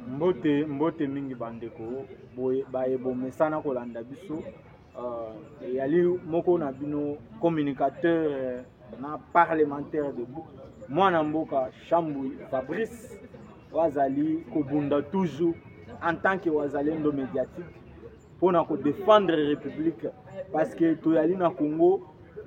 Mbote, mbote mingi bandeko, boye baye bomesana kolanda biso uh, eyali moko na bino communicateur euh, na parlementaire de mwana mboka Shambui Fabrice oyo azali kobunda toujours en tant que wazalendo médiatique mpo na kodefendre republike parceke toyali na congo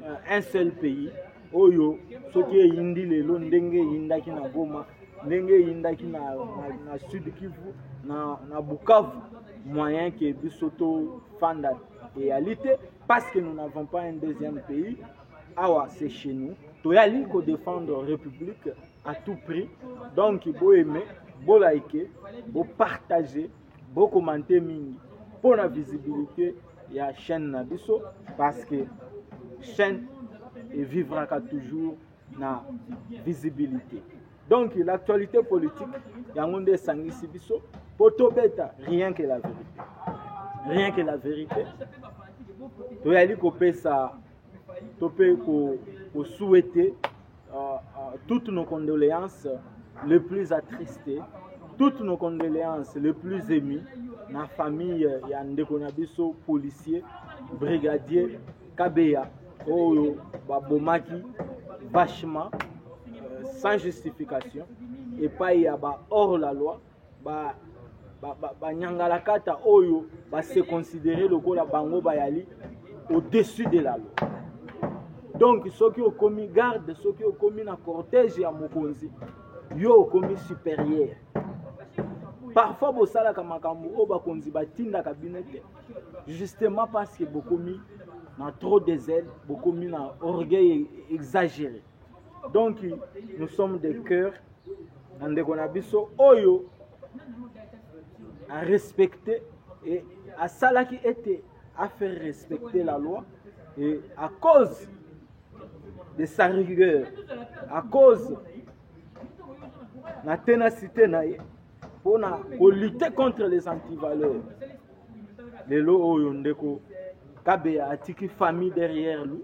euh, un seul pays oyo soki eyindi lelo ndenge eyindaki na goma ndenge eyindaki na, na, na sud kivu na, na bukavu moyen ke biso tofanda eyali te parce que nous n'avons pas un deuxième pays awa c'est chez nous toyali kodefendre république à tout prix donc boyeme bolaike bopartage Bo commente mingi mpo na visibilité ya chaîne na biso parce que chaîne evivraka toujours na visibilité. Donc l'actualité politique yango nde esangisi biso mpo tobeta rien que la vérité. Rien que la vérité. Toyali kopesa to mpe kosuete uh, uh, toutes nos condoléances le plus attristé toutes nos condoléances le plus ému na famille ya ndeko na biso policier brigadier kabeya oyo babomaki vachement euh, sans justification epai ya ba hors la loi ba banyangalakata ba, ba oyo base considere lokola bango bayali au-dessus de la loi donc soki okomi garde soki okomi na cortège ya mokonzi yo okomi supérieur parfois bosalaka makambo oyo bakonzi batindaka bino te justement parce que bokomi na trop des ailes bokomi na orgueil exagéré donc nous sommes de cœur na ndeko na biso oyo arespecte e asalaki ete afaire respecter la loi e à cause de sa rigueur à cause na tenacité na ye mpo na kolute contre les antivaleurs lelo oyo ndeko kabeya atiki famille derrière lui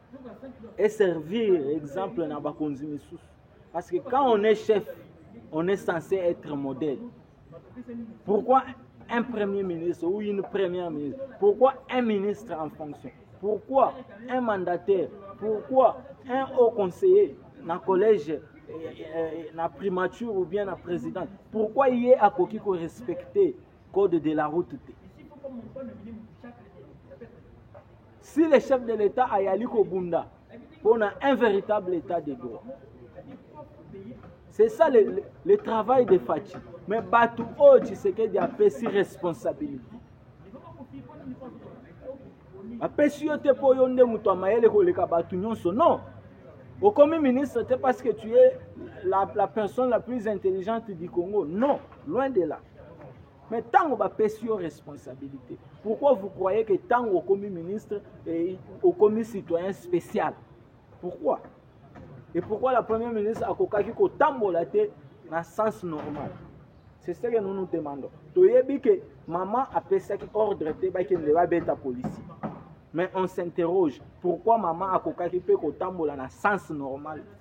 et servir exemple na bakonzi misusu parce que quand on est chef on est censé être modèle pourquoi un premier ministre ou une première ministre pourquoi un ministre en fonction pourquoi un mandataire pourquoi un haut conseiller na collège eh, eh, na primature ou bien na présidente pourquoi ye akoki ko respecter code de la route te Si le chef de l'Etat ayali kobunda mpo na un véritable état de droit c'est ça le, le, le travail de Fatshi mais bato oyo Tshisekedi apesi responsabilité apesi yo te mpo yo nde moto ya mayele koleka bato nyonso non okomi ministre te parce que tu es la, la personne la plus intelligente du Congo non loin de là Mais tango ba pesi yo responsabilité. Pourquoi vous croyez que tango okomi ministre et okomi citoyen spécial? Pourquoi? Et pourquoi la première ministre akokaki kotambola te na sens normal? C'est ce que nous nous demandons. Toyebi que maman apesaki ordre te bakende babeta policier. Mais on s'interroge pourquoi maman akokaki mpe kotambola na sens normal te?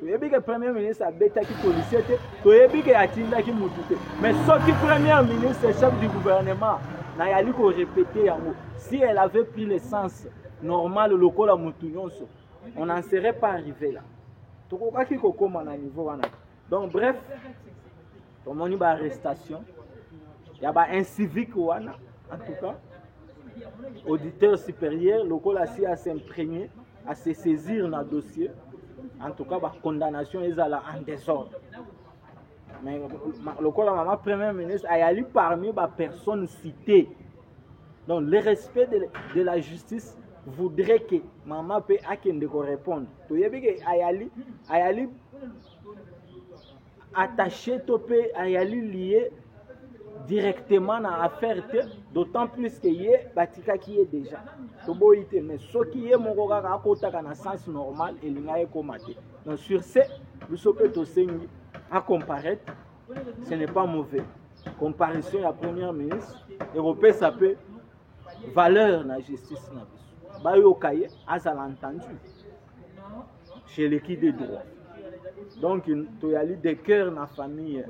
toyebi ke premier ministre abetaki policier te toyebi ke atindaki motu te mais soki premier ministre chef du gouvernement nayali korepete yango si elle avait pris le sens normal lokola motu nyonso on n'en serait pas arrivé là tokokaki kokóma na niveau wana donc bref tomoni ba arrestation ya ba incivique wana en tout cas auditeur supérieur lokola si a s'imprégner à se saisir na dossier en tout cas ba condamnation ezala en désordre mais ma- lokola mama premier ministre ayali parmi ba personnes citées donc le respect de, de la justice voudrait que mama mpe akende korépondre toyebi ke ayali ayali attaché to mpe ayali liye directement na affaire te d'autant plus que ye batikaki ye déjà toboyi te mais soki ye moko kaka akotaka na sens normal elinga ekoma te donc sur ce biso mpe tosengi acomparaître ce n'est pas mauvais comparaison ya première ministre ekopesa mpe valeur na justice na biso bayoka ye azala entendu chez le qui de droit donc toyali de cœur na famille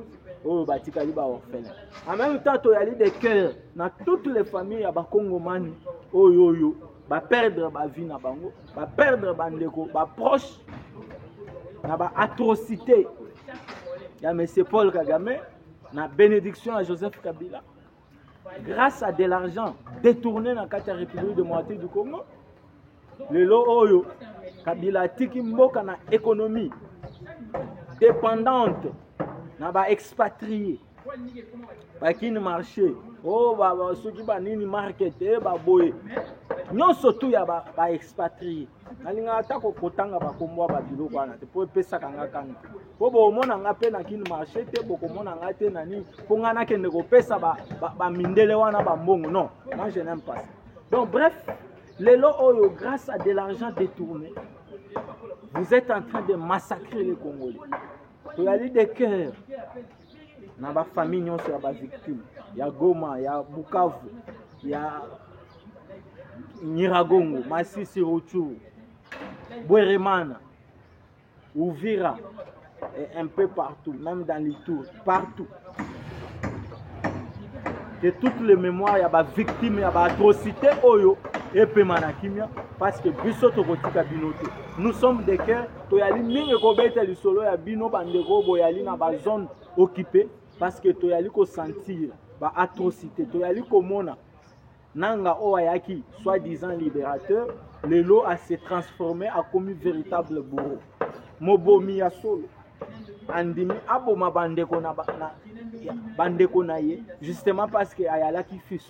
oyo batikali baorphelin en même temps toyali de cœur na toutes les familles ya bakongomani oyo oyo baperdre bavie na bango baperdre bandeko baproche na baatrocité ya monsieur paul kagame na bénédiction ya joseph kabila grâce à de l'argent détourné na kati ya république démocratique du congo lelo oyo kabila atiki mboka na économie dépendante na baexpatrie bakini marché o oh, soki banini market e eh, baboye nyonso tu ya baexpatrie ba nalingaka ata kotanga bakombo ya babiloko wana te mpo epesaka nga kanga mpo bokomona nga mpe na kini marché te bokomona nga te na nini mpo ngai nakende kopesa bamindele ba, ba wana bambongo non moi je n'aime pas ça donc bref lelo oyo grâce à de l'argent détourné vous êtes en train de massacrer les congolais toyali de cœur na ba famille nyonso ya ba victime ya Goma ya Bukavu ya Nyiragongo Masisi Ruchuru Bweremana Uvira et un peu partout même dans les tours partout que toutes les mémoires ya ba victime ya ba atrocité oyo epema na kimia parce que biso tokotika bino te nous sommes des cœurs toyali mingi kobeta lisolo ya bino bandeko oyo boyali na bazone occupe parce que toyali kosentir ba atrocité toyali komona nanga oyo ayaki soit disant libérateur lelo ase transforme akomi véritable bourreau mobomi ya solo andimi aboma bandeko na, ba, na, ya, bandeko na ye justement parce que ayalaki fils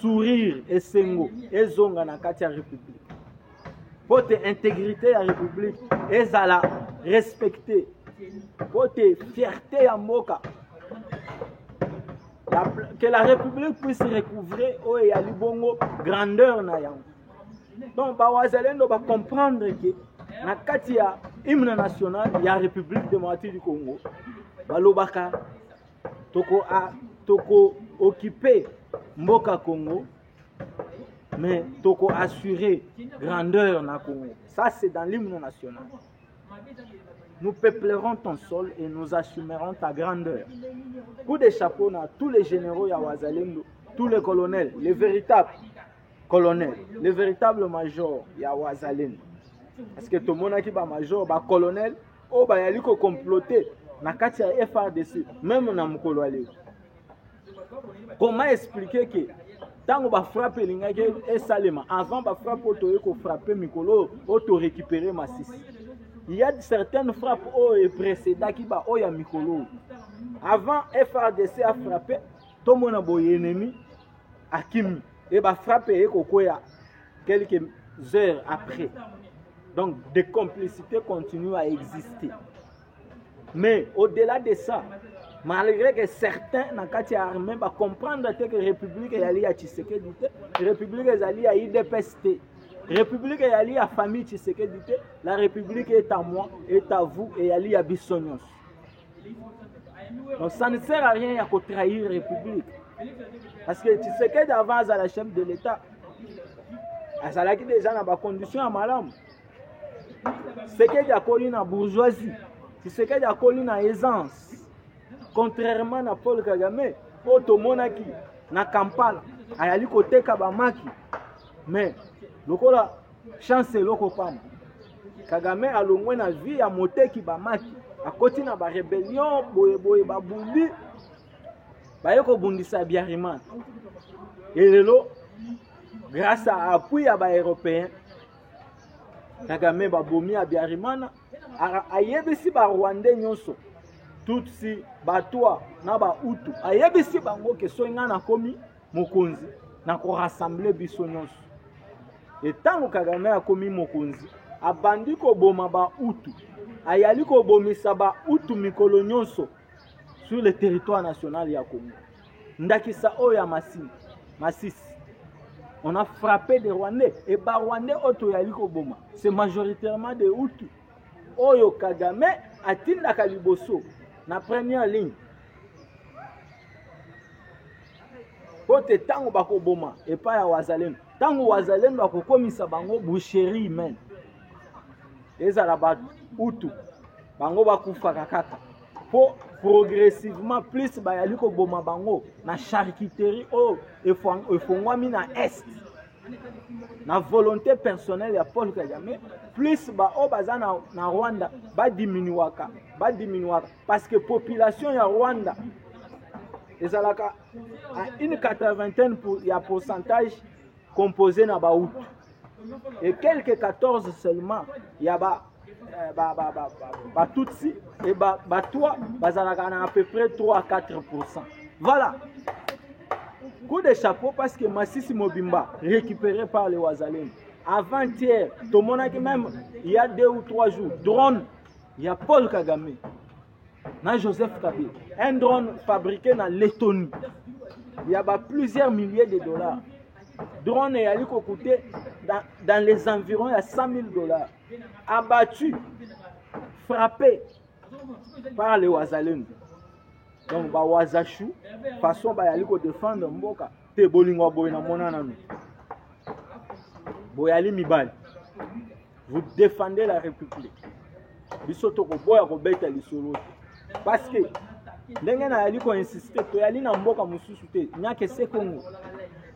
sourire esengo ezonga na kati ya republique mpo te intégrité ya republique ezala respecte mpo te fierté ya mboka la, que la république puisse recouvrer oyo eyali bongo grandeur na yango donc bawazalendo bacomprendre ke na kati ya hymne national ya république démocratique du congo balobaka toko a ah, toko occuper mboka Congo mais toko assurer grandeur na Congo ça c'est dans l'hymne national nous peuplerons ton sol et nous assumerons ta grandeur coup de chapeau na tous les généraux ya wazalendo tous les colonels les véritables colonels les véritables majors ya wazalendo parce que tomonaki ba major ba colonel oyo bayali ko comploter na kati ya FRDC meme na mokolo ya lelo comment expliquer que ntango bafrappe elingaki esalema avant bafrappe oyo toyei kofrappe mikolo oyo oyo torécupere masisi ya certaines frappe oyo eprecedaki baoyo ya mikolo oyo avant frdc afrappe tomona boye enemi akimi e bafrappe eye kokwea Quelques heures après, donc des complicités continuent à exister. Mais au-delà de ça, malgré que certains na kati ya armée bacomprendre te que république eyali ya tshisekedi te république ezali ya idps te république eyali ya famille tshisekedi te la république est à moi est à vous eyali ya biso nyonso Non, ça ne sert à rien ya ko trahir république parce que Tshisekedi avant azala chef de l'État azalaki déjà na ba conditions ya malamu Tshisekedi akoli na bourgeoisie Tshisekedi akoli na aisance contrairement na Paul Kagame oyo tomonaki na Kampala ayali koteka bamaki mais lokola chance eloko pamba Kagame alongwe na vie ya moteki bamaki akoti na ba rebellion boye boye babundi baye kobundisa biariman elelo grâce à appui ya baeuropéen kagame babomi ya biarimana ayebisi barwandais nyonso tutsi batwa na bautu ayebisi bango ke soki ngai nakomi mokonzi na ko rassembler biso nyonso e ntango kagame akomi mokonzi abandi koboma bautu ayali kobomisa bautu mikolo nyonso sur le territoire national ya congo ndakisa oyo ya masini masisi on a frappé des rwandais e barwandais oyo toyali koboma c'est majoritairement de hutu oyo kagame atindaka liboso na première ligne mpo te ntango bakoboma epai ya wazalendo ntango wazalendo akokomisa bango boucherie humaine ezala bautu bango bakufaka kaka mpo progressivement plus bayali koboma bango na charcuterie oyo efongwami na est na volonté personnelle ya paul kagame plus baoyo baza na, na rwanda badiminuaka badiminuaka parce que population ya rwanda ezalaka une 80 pour, ya pourcentage composé na bahutu et quelque 14 seulement ya ba eh, ba ba ba ba tutsi et ba ba toi bazalaka na à peu près 3 à 4 voilà coup de chapeau parce que Massissi Mobimba récupéré par les Wazalem avant-hier tomonaki même il y a deux ou trois jours drone ya Paul Kagame na joseph kabila un drone fabriqué na lettonie ya ba plusieurs milliers de dollars drone eyali kokute dans, dans les environs ya 100 000 dollars abattu frappé par le wazalendo donc bawazashu façon bayali kodefendre mboka te bolingo ya boye namona nanu boyali mibali vous défendez la république biso tokoboya kobeta lisolo te parce que ndenge nayali koinsiste toyali na mboka mosusu te nyake se congo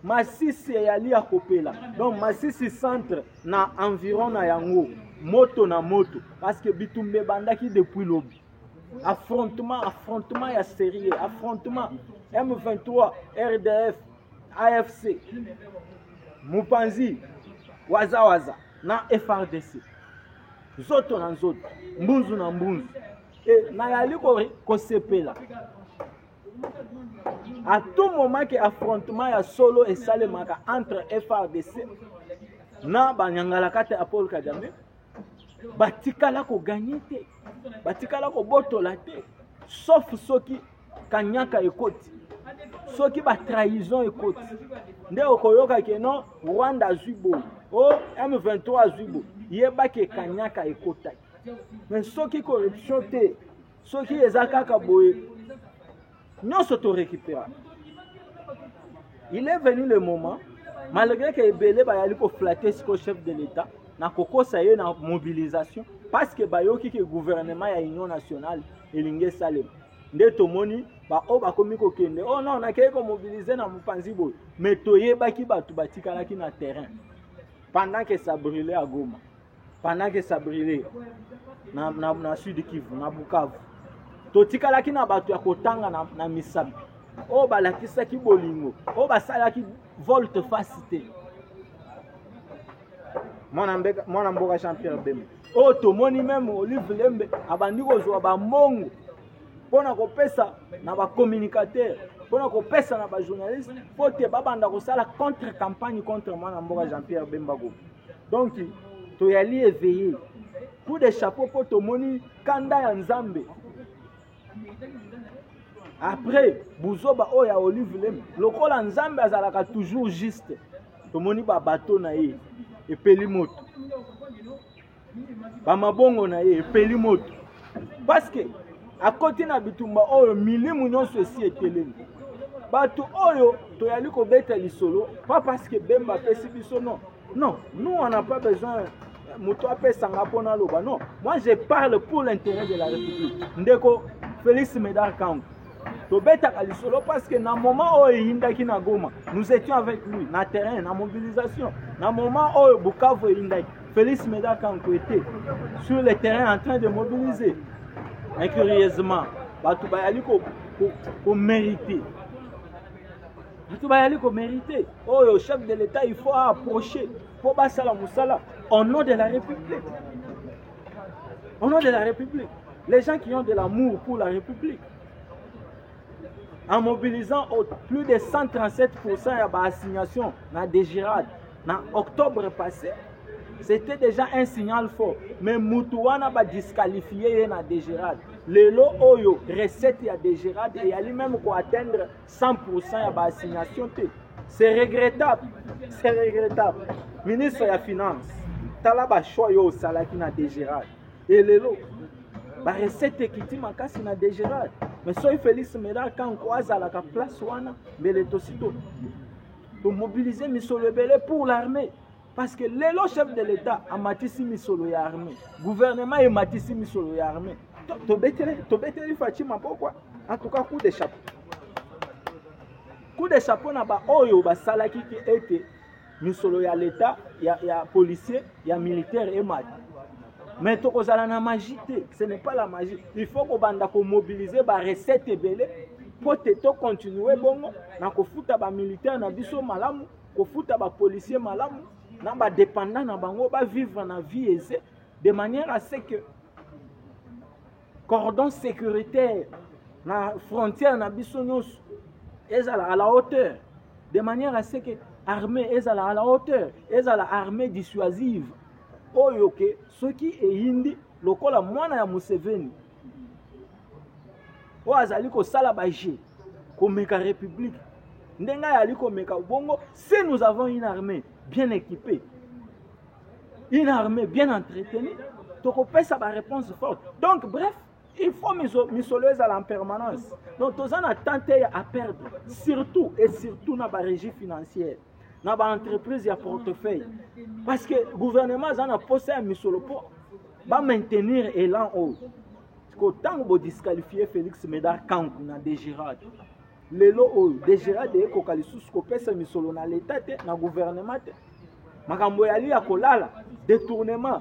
masisi eyali ya kopela donc masisi centre na environ na yango moto na moto parce que bitumba ebandaki depuis lobi affrontement affrontement ya sérieux affrontement m23 rdf afc mupanzi waza waza na frdc nzoto na nzoto mbunzu na mbunzu e nayali kosepela à tout moment ke affrontement ya solo esalemaka entre frdc na banyangalakata ya paul kagame batikala koganye te batikala kobotola te sauf soki kanyaka ekoti soki batrahison ekoti nde okoyoka ke non rwanda azwi boye o oh, m23 azwi boye yebaki ekanyaka ekotaki mais soki corruption te soki eza kaka boye nyonso to récupera il est venu le moment malgré que ebele bayali koflate sikoyo chef de l'état na kokosa ye na mobilisation parce que bayoki ke gouvernement ya union nationale elingi esalema nde tomoni baoyo bakomi kokende oh non nakei komobilize na mopanzi boye mais toyebaki bato batikalaki na terrain pendant que ça brûle à goma pendant que ça brûlait na, na, na sud kivu na bukavu totikalaki na bato ya kotanga na, na misapi oyo balakisaki bolingo oyo basalaki volte fasi te mwana mboka jean pierre bemba oyo tomoni meme olive lembe abandi kozwa bambongo mpo na kopesa na bacommunicateur mpo na kopesa na bajournaliste mpo te babanda kosala contre campagne contre mwana mboka jean pierre bemba gopi donc toyali eveille coup de chapeau mpo tomoni kanda ya nzambe après buzoba oyo ya olive lem lokola nzambe azalaka toujours juste tomoni babato na ye epeli moto bamabongo na ye epeli moto parce que akoti na bitumba oyo milimu nyonso esi etelemi bato oyo toyali kobeta lisolo pas parce que bemba apesi biso non non nous on n'a pas besoin moto apesanga mpo naloba non moi je parle pour l'intérêt de la république ndeko félix médard kango tobetaka lisolo parce que na moment oyo eyindaki na goma nous étions avec lui na terrain na mobilisation na moment oyo bukavu eyindaki félix meda kanko était sur le terrain en train de mobiliser mais curieusement bato bayali komérite bato bayali komérite oyo chef de l'état il faut approcher mpo basala mosala au nom de la république Au nom de la République, les gens qui ont de l'amour pour la République, en mobilisant au plus de 137% ya ba assignation na Degirad na octobre passé, c'était déjà un signal fort. Mais mutu wana ba disqualifier ye na Degirad. Lelo oyo recette ya Degirad eyali même ko atteindre 100% ya ba assignation te c'est regrettable c'est regrettable ministre ya finance tala ba choix yo osalaki na degerade e lelo ba recette ekiti makasi na degerade mais soki félix meda kanko azalaka place wana mbele tosi to tomobilize misolo ebele pour l'armée parce que lelo chef de l'etat amatisi misolo ya armée gouvernement ematisi misolo ya armée tobeteli tobeteli faci mapokwa en tout cas coup de chapeau coup de chapeau na baoyo basalaki ke ete misolo ya leta ya, ya policier ya militaire emati mais tokozala na magie te ce n'est pas la magie il faut kobanda komobiliser barecette ebele mpo te tocontinue bongo na kofuta bamilitaire na biso malamu kofuta ba policiers malamu na ba dependants na bango ba vivre na vie aisée de manière à ce que cordon sécuritaire na frontière na biso nyonso ezala à la hauteur de manière à ce que armée ezala à la hauteur ezala armée dissuasive oyo ke soki eyindi lokola mwana ya museveni oyo azali kosala bajeu komeka république ndenge ayali komeka bongo si nous avons une armée bien équipée une armée bien entretenue tokopesa baréponse forte donc bref il faut misolo ezala en permanence donc toza na temps te ya aperdre surtout et surtout na barégie financière na ba entreprise ya portefeuille parce que gouvernement aza na posa ya misolo mpo bamaintenir elan oyo siko ntango bodisqualifie félix médard kanku na dégérade lelo oyo dégérade ekoka lisusu kopesa misolo na leta te na gouvernement te makambo yali ya kolala détournement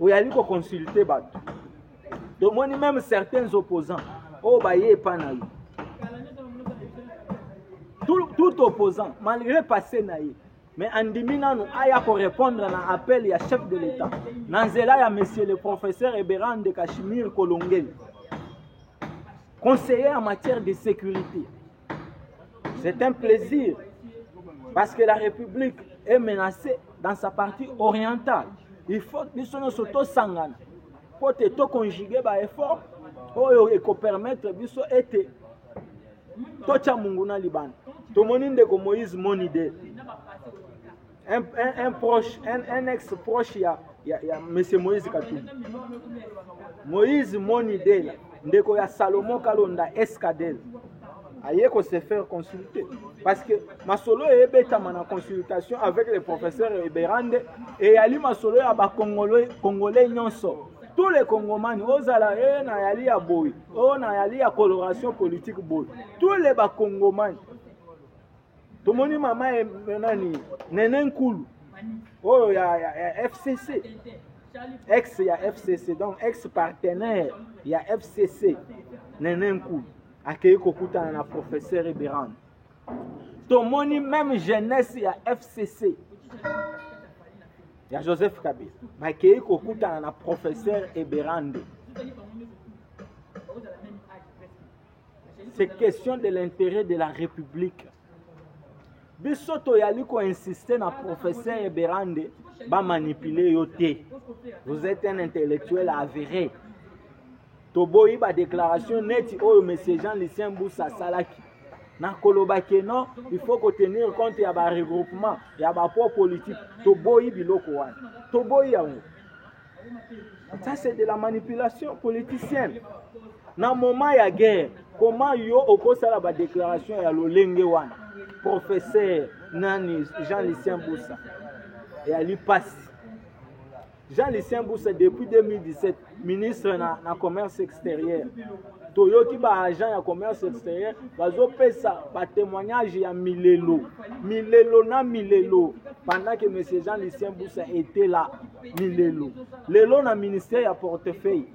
oyali ko consulter bato tomoni meme certains opposants oyo oh, baye epa na yo tout, tout opposant malgré passé na ye mais andimi nanu aya korépondre na appel ya chef de l'état na nzela ya monsieur le professeur eberan de kashimir kolongeli conseiller en matière de sécurité C'est un plaisir parce que la République est menacée dans sa partie orientale. Il faut que nous soyons surtout sangana pour te to conjuguer ba effort oyo eko permettre biso ete totya monguna libanda tomoni ndeko moïse monide un, un, un proche un, un ex proche ya, ya, ya monsieur moïse katumbi moïse monidela ndeko ya salomon kalonda escadel aye ko se faire consulter parce que masolo eyebetama na consultation avec le professeur eberande eyali masolo ya bacongolais congolais nyonso tous les congomani ozala e nayali ya boye o nayali ya coloration politique boye tous les bacongomani tomoni mama eh, nani nene nkulu oyo oh, ya, ya, ya fcc ex ya fcc donc ex partenaire ya fcc nene nkulu akei kokutana na professeur eberan tomoni meme jeunesse ya fcc ya joseph kabila bakei kokutana na professeur eberande c'est question de l'intérêt de la république biso toyali koinsiste na professeur eberande bamanipule yo te vous êtes un intellectuel avéré toboyi badéclaration neti oyo monsieur jean lucien busa asalaki na koloba ke non il faut kotenir compte ya baregroupement ya bapo politique toboyi biloko wana toboyi yango Ça c'est de la manipulation politicienne. Na moment ya guerre, comment yo okosala ba déclaration ya lolenge wana? Professeur nani Jean Lucien Boussa et Ali Pass. Jean Lucien Boussa depuis 2017 ministre na, na commerce extérieur. toyoki baagent ya commerce extérieur bazopesa batémoignage ya milelo milelo na milelo pendant que monsieur jean lucien busa était là milelo lelo na ministère ya portefeuille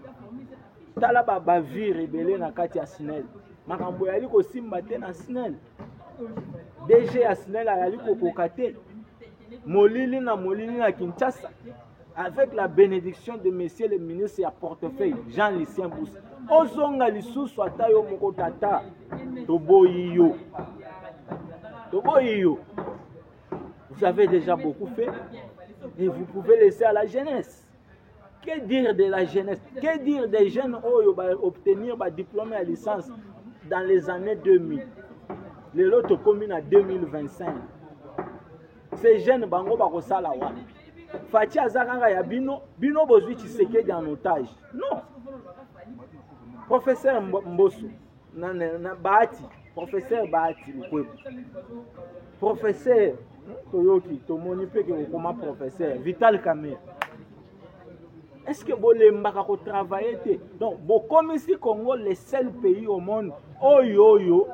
tala ba bavire ebele na kati ya snel makambo yali kosimba te na snel dg ya snel ayali kokoka te molili na molili na kinshasa avec la bénédiction de monsieur le ministre ya portefeuille jean lucien busi ozonga lisusu ata yo moko tata toboyi yo toboyi yo Vous avez déjà beaucoup fait et vous pouvez laisser à la jeunesse. Que dire de la jeunesse Que dire des jeunes oyo ba obtenir ba diplôme à licence dans les années 2000 lelo tokomi na 2025 ces jeunes bango bakosala wapi faci aza kaka ya bino bino bozwi tshisekedi en otage non professeur mboso na, na, na bahati professeur bahati lukwebo professeur toyoki tomoni mpe ke kokoma professeur vital camere est ce que bolembaka kotravaille te donc bokomisi congo le seul pays au monde oyo oyo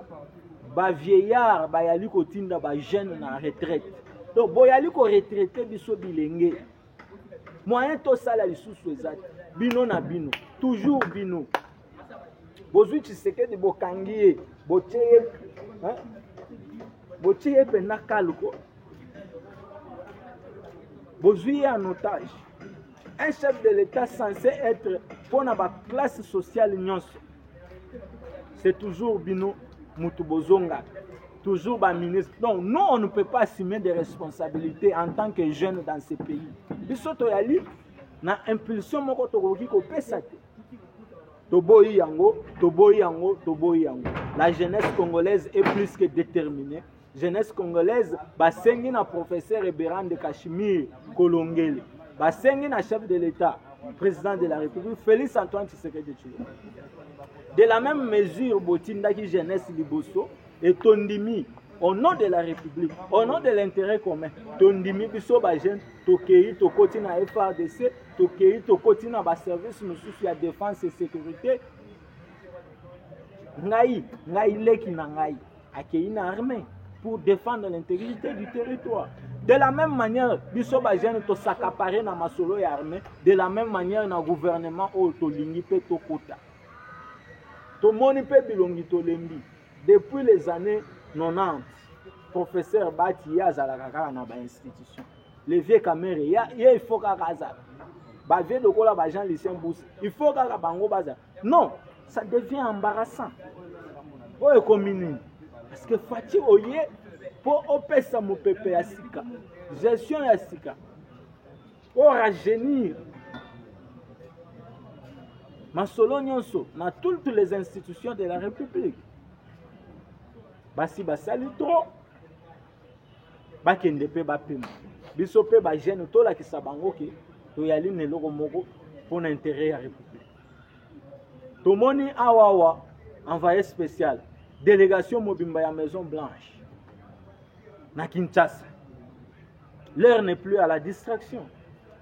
bavieillard bayali kotinda bajeune na retraite donc boyali koretraite biso bilenge moyen tosala lisusu eza te bino na bino toujours bino bozwi tshisekedi bokangi ye botie ye botie ye mpenza kalko bozwi ye en otage un chef de l'état censé être mpo na baklasse sociale nyonso c'est toujours bino motu bozongaka toujours baministre donc nous on ne peut pas assumer des responsabilités en tant que jeune dans ce pays biso toyali na impulsion moko tokoki kopesa te toboyi yango toboyi yango toboyi yango la jeunesse congolaise est plus que déterminée jeunesse congolaise basengi na professeur eberan de cachemire kolongele basengi na chef de l'état président de la république félix antoine tshisekedi tshilombo de la même mesure botindaki jeunesse liboso e tondimi au nom de la république au nom de l'intérêt commun tondimi biso bajeune tokei tokoti na frdc tokei tokoti na baservice mosusu ya defense et sécurité ngai ngai leki na ngai akei na armée pour défendre l'intégrité du territoire de la même manière biso bajeune tosakapare na masolo ya armée de la même manière na gouvernement oyo tolingi mpe tokota tomoni mpe bilongi tolembi depuis les années 90 professeur bati ye azalaka kaka na bainstitution le vieux kamere ya ye il faut kaka azala ba vieux lokola ba jean lucien bus il faut kaka bango bazala non ça devient embarrassant oyo ekomi nini parce que faci oye mpo opesa mopepe ya sika gestion ya sika oragenir masolo nyonso na toutes les institutions de la république basi basali trop bakende mpe bapema biso mpe bajeune tolakisa bango ke toyali na eloko moko mpo na interet ya république tomoni awawa envoyé spécial délégation mobimba ya maison blanche na kinshasa l'heure n'est plus à la distraction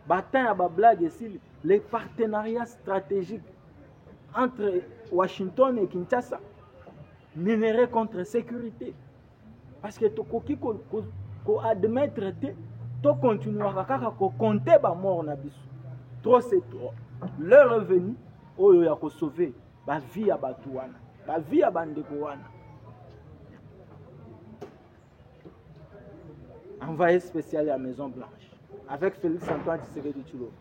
batin ya bablage esili les partenariats stratégiques entre washington et kinshasa minerais contre sécurité parce que tokoki ko, ko, ko admettre te to continuaka kaka ko compter ba mort na biso trop c'est trop leur est venu oyo ya ko sauver ba vie ya bato wana ba vie ya bandeko wana envoyé spécial ya maison blanche avec félix antoine tshisekedi tshilombo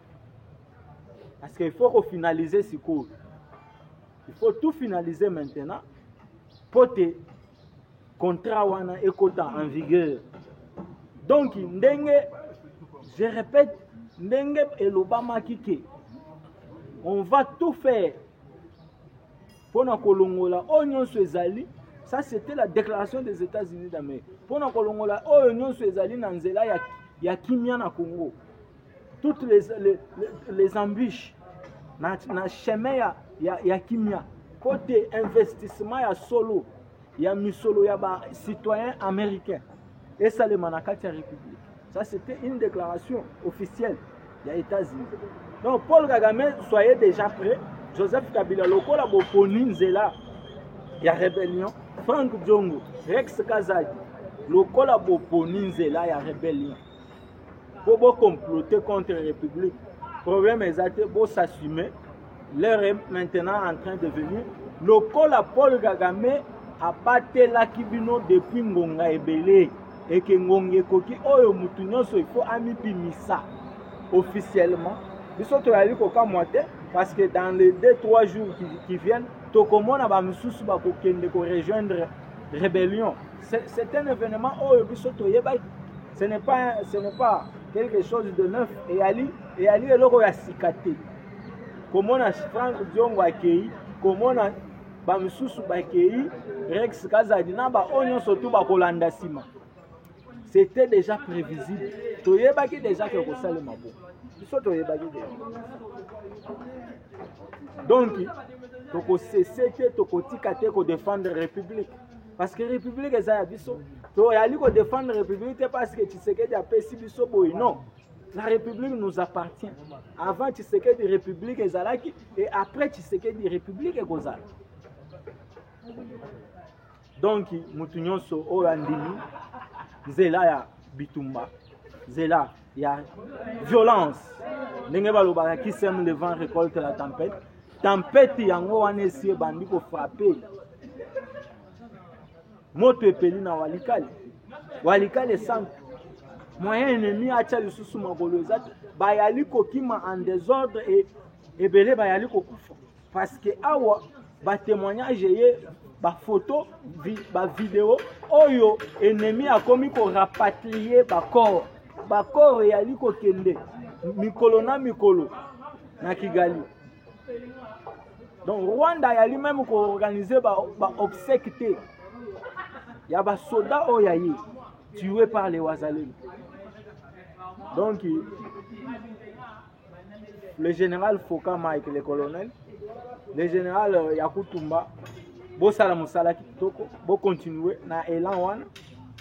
parce que il faut kofinalize sikoyo Il faut tout finaliser maintenant mpo te contrat wana ekota en vigueur donc ndenge je répète ndenge elobamaki ke on va tout faire mpo na kolongola oyo nyonso ezali ça c'était la déclaration des états-unis d'amérique mpo na kolongola oyo nyonso ezali na nzela ya, ya kimia na congo toutes les, les, les embûches na, na chemin ya, ya, ya kimia kote investissement ya solo ya misolo ya ba citoyen américain esalema na kati ya république ça c'était une déclaration officielle ya états-unis donc paul kagame soyez déjà prêt joseph kabila lokola boponi nzela ya rébellion frank diongo rex kazadi lokola boponi nzela ya rébellion mpo bocomplote contre république problème eza te bosassume l'heure est maintenant en train de venir lokola paul kagame abatelaki bino depuis ngonga ebele eke ngonga ekoki oyo motu nyonso ifo amibimisa officiellement biso toyali kokamwa te parce que dans les deux trois jours qui, qui viennent tokomona bamosusu bakokende korejoindre rébellion c'est un événement oyo biso toyebaki ce n'est pas, ce n'est pas quelque chose de neuf eyali eyali eloko ya sika te komona frank diongo akei komona bamosusu bakei rex kazadi na baoyo nyonso tu bakolanda nsima c'était déjà prévisible toyebaki déjà ke kosalema bo biso toyebaki déjà donc tokosese te tokotika te kodefendre république parce que république eza ya biso toyali kodefendre république te parce que tshisekedi apesi biso boye non la république nous appartient avant tshisekedi république ezalaki et après tshisekedi république ekozala donc moto nyonso oyo andimi nzela ya bitumba nzela ya violence ndenge balobaka qui sème le vent récolte la tempête tempete yango wana esi ebandi kofrape moto epeli na walikale walikale esantu moyen ennemi atya lisusu makolo eza te bayali kokima en desordre e ebele bayali kokufa parce que awa ba témoignage eye ba photo vi, ba video oyo ennemi akomi ko rapatrier ba corps ba corps eyali kokende mikolo na mikolo na Kigali donc Rwanda ayali même ko organiser ba, ba obsèques te ya ba soda oyo aye tué par les wazalendo donc le général Foka Mike le colonel le général euh, Yakutumba bosala mosala kitoko bokontinue na elan wana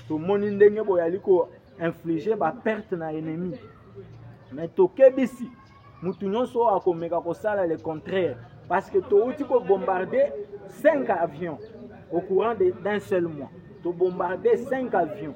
tomoni ndenge boyali ko inflige baperte na ennemi me tokebisi moto nyonso oyo akomeka kosala le contraire parce que touti kobombarde 5 avions au courant d'un seul mois tobombarde 5 avions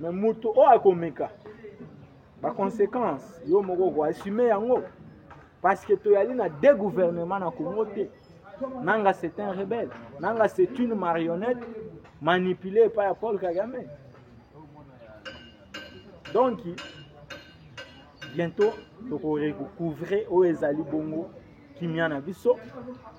me moto oyo akomeka baconséquence yo moko koassume yango parce que toyali na de gouvernement na congo te nanga c'est un rebelle nanga c'est une marionnette manipulé epai ya paul kagame donc bientôt tokorecouvre oyo ezali bongo kimia na biso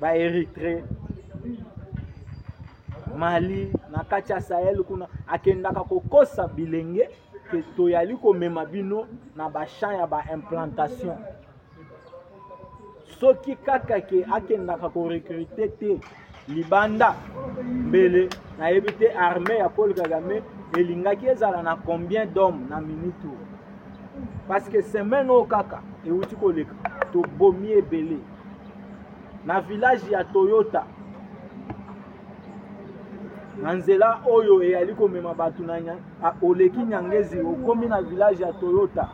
ba Eritrea Mali na kati ya Sahel kuna akendaka kokosa bilenge ke toyali komema bino na ba champs ya ba implantation soki kaka ke akendaka korekrute te libanda mbele nayebi te armée ya Paul Kagame elingaki ezala na combien d'hommes na minute oyo parce que semaine oyo kaka ewuti koleka tobomi ebele na village ya toyota na nzela oyo eyali komema bato na oleki nyangezi okomi na village ya toyota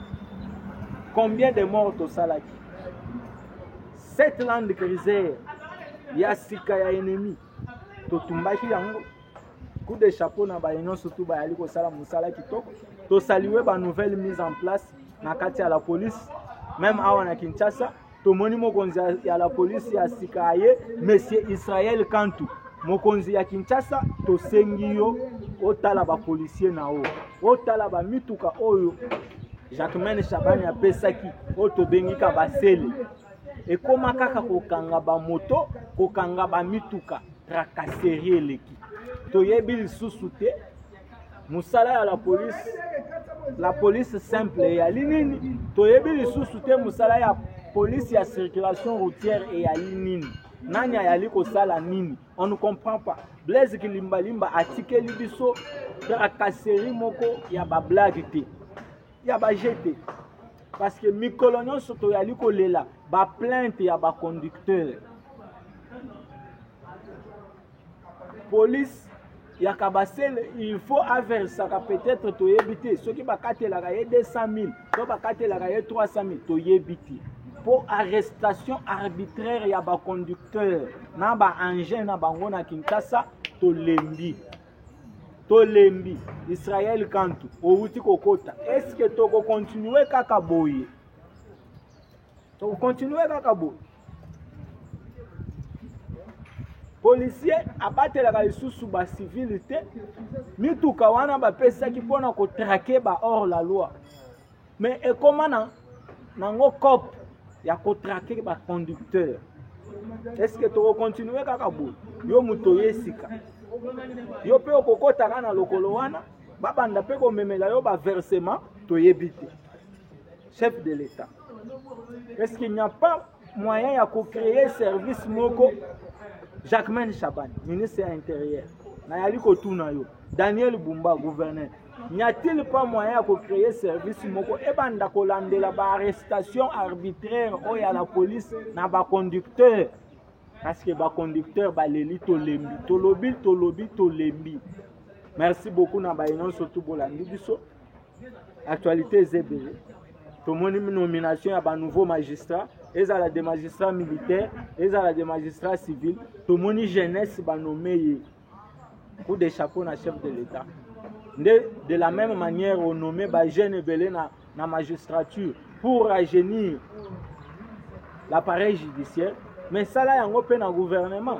combien de mort tosalaki cette land cruiser ya sika ya ennemi totumbaki yango coup de chapeau na baye nyonso tu bayali kosala mosala kitoko tosalue ba nouvelle mise en place na kati ya la police meme awa na kinshasa tomoni mokonzi ya la police ya sika aye monsieur israel kantu mokonzi ya kinshasa tosengi yo otala bapolisier na yo otala bamituka oyo jacquemaine shabani apesaki oyo tobengika basele ekóma kaka kokanga bamoto kokanga bamituka tracasserie eleki toyebi lisusu te mosala ya la police la police simple eyali nini toyebi lisusu te mosala ya police ya circulation routière eyali nini nani ayali kosala nini on ne comprend pas blaise kilimbalimba atikeli biso tracasserie moko ya bablage te ya ba jeu te parce que mikolo nyonso toyali kolela ba plainte ya ba conducteur police ya kabasele il faut aversaka peut-être toyebi te soki bakatelaka ye 200 000 to bakatelaka ye 300 000 toyebi te mpo arrestation arbitraire ya baconducteur na baengin na bango na kinshasa tolembi tolembi israel kantu owuti kokota eske tokokontinue kaka boye tokokontinue kaka boye policier abatelaka lisusu bacivile te mituka wana bapesaki mpo na kotrake ba hors la loi mais ekoma na nango cop ya kotrake baconducteur est ce que tokokontinue kaka boye yo moto oye sika yo mpe okokotaka na lokolo wana babanda mpe komemela yo baversement toyebi te chef de l'état est ce qu'il n'y a pas moyen ya ko créer service moko Jacquemain Shaban ministre ya intérieur nayali kotuna yo Daniel Bumba gouverneur n'y a-t-il pas moyen ya ko créer service moko ebanda kolandela ba arrestation arbitraire oyo ya la police na ba conducteur parce que ba conducteur baleli tolembi tolobi tolobi tolembi merci beaucoup na baye nyonso tu bolandi biso actualité eza ebele tomoni nomination ya banouveau magistrat ezala de magistrat militaire ezala de magistrat civil tomoni jeunesse banome ye coup de chapeau na chef de l'état nde de la même manière onome bajeune ebele na, na magistrature pour rajeunir l'appareil judiciaire mais sala yango mpe na gouvernement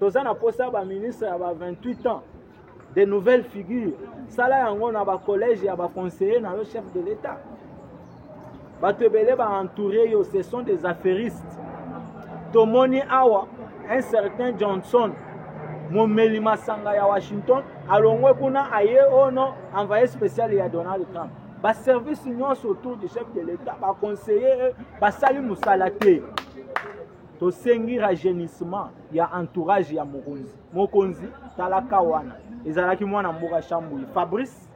toza na mposa baministre ya ba 28 ans de nouvelles figures sala yango na bacollège ya baconseiller na yo chef de l'état bato ebele baentoure yo ce sont des affairistes tomoni awa un certain johnson momeli masanga ya washington alongwe kuna aye ono oh envoye spécial ya donald trump baservice nyonso autour du chef de l'état baconseiller basali mosala te tosengi rajeunissement ya entourage ya mokonzi mokonzi talaka wana ezalaki mwana mboka shambui fabrice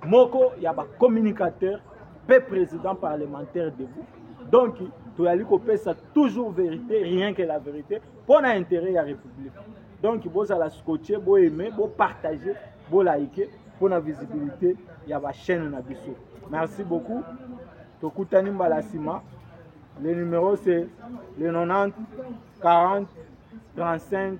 moko ya bacommunicateur mpe président parlementaire debout donc toyali kopesa toujours vérité rien que la vérité mpo na intérêt ya république donc bozala scotche boaime bopartage bolaike mpo na visibilité ya bachaîne na biso merci beaucoup tokutani mbala nsima le numéro c'est le 90 40 35